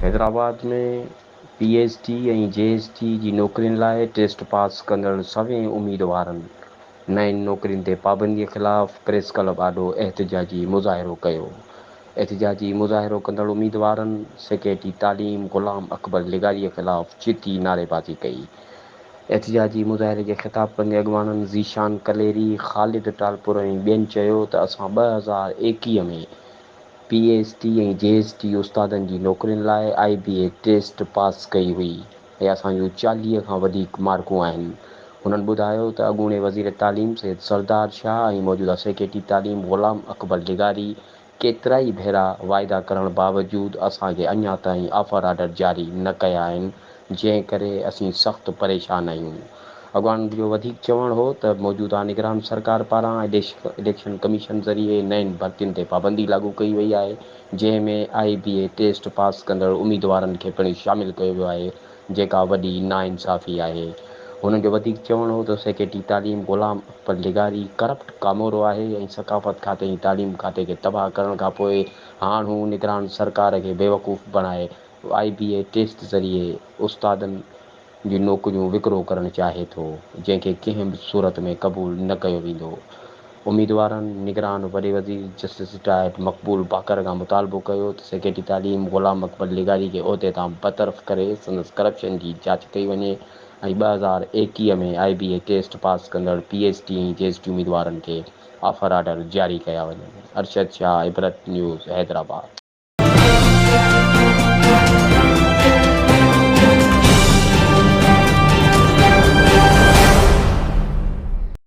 Hyderabad ۾ P S T ۽ G S T جي نوڪرين لاء ٽيسٽ پاس ڪندڙ سوين اميدوارن نئين نوڪرين تي پابندي خلاف پريس ڪلب آڏو احتجاجي مظاهرو ڪيو. احتجاجي مظاهرو ڪندڙ اميدوارن سيڪريٽري تعليم غلام اڪبر لغاري خلاف جتي نعريبازي ڪئي. احتجاجي مظاهري کي خطاب ڪندي اڳواڻن ذيشان ڪليري، خالد ٽالپر ۽ ٻين چيو ته اسان ٻه هزار ايڪيهه ۾ P S T ۽ G S T استادن جي نوڪرين لاء آء بي اي ٽيسٽ پاس ڪئي هئي ۽ اسان جون چاليهه کان وڌيڪ مارڪون آهن. هنن ٻڌايو ته اڳوڻي وزير تعليم سيد سردار شاهه ۽ موجوده سيڪريٽري تعليم غلام اڪبر لغاري ڪيترائي ڀيرا واعدا ڪرڻ باوجود اسان کي اڃا تائين آفر آرڊر جاري نه ڪيا آهن، جنهن ڪري اسين سخت پريشان آهيون. اڳواڻن جو وڌيڪ چوڻ هو ته موجوده نگران سرڪار پاران اليڪشن ڪميشن ذريعي نين ڀرتين تي پابندي لاڳو ڪئي وئي آهي، جنهن ۾ آء بي اي ٽيسٽ پاس ڪندڙ اميدوارن کي پڻ شامل ڪيو ويو آهي، جيڪا وڏي ناانصافي آهي. هنن جو وڌيڪ چوڻ هو ته سيڪريٽري تعليم غلام اڪبر لغاري ڪرپٽ ڪامورو آهي ۽ ثقافت کاتي ۽ تعليم کاتي کي تباهه ڪرڻ کان پوء هاڻ هو نگران سرڪار کي بيوقوف بڻائي آئي بي اي ٽيسٽ ذريعي استادن جون نوڪريون وڪرو ڪرڻ چاهي ٿو جنهن کي ڪنهن به صورت ۾ قبول نه ڪيو ويندو. اميدوارن نگران وڏي وزير جسٽس رٽائرڊ مقبول باقر کان مطالبو ڪيو ته سيڪريٽري تعليم غلام اڪبر لغاري کي عهدي تان برطرف ڪري سندس ڪرپشن جي جاچ ڪئي وڃي ۽ ٻه هزار ايڪيهه ۾ آء بي اي ٽيسٽ پاس ڪندڙ P H D ۽ G H D اميدوارن کي آفر آرڊر جاري ڪيا وڃن. ارشد شاهه عبرت نيوز حيدرآباد.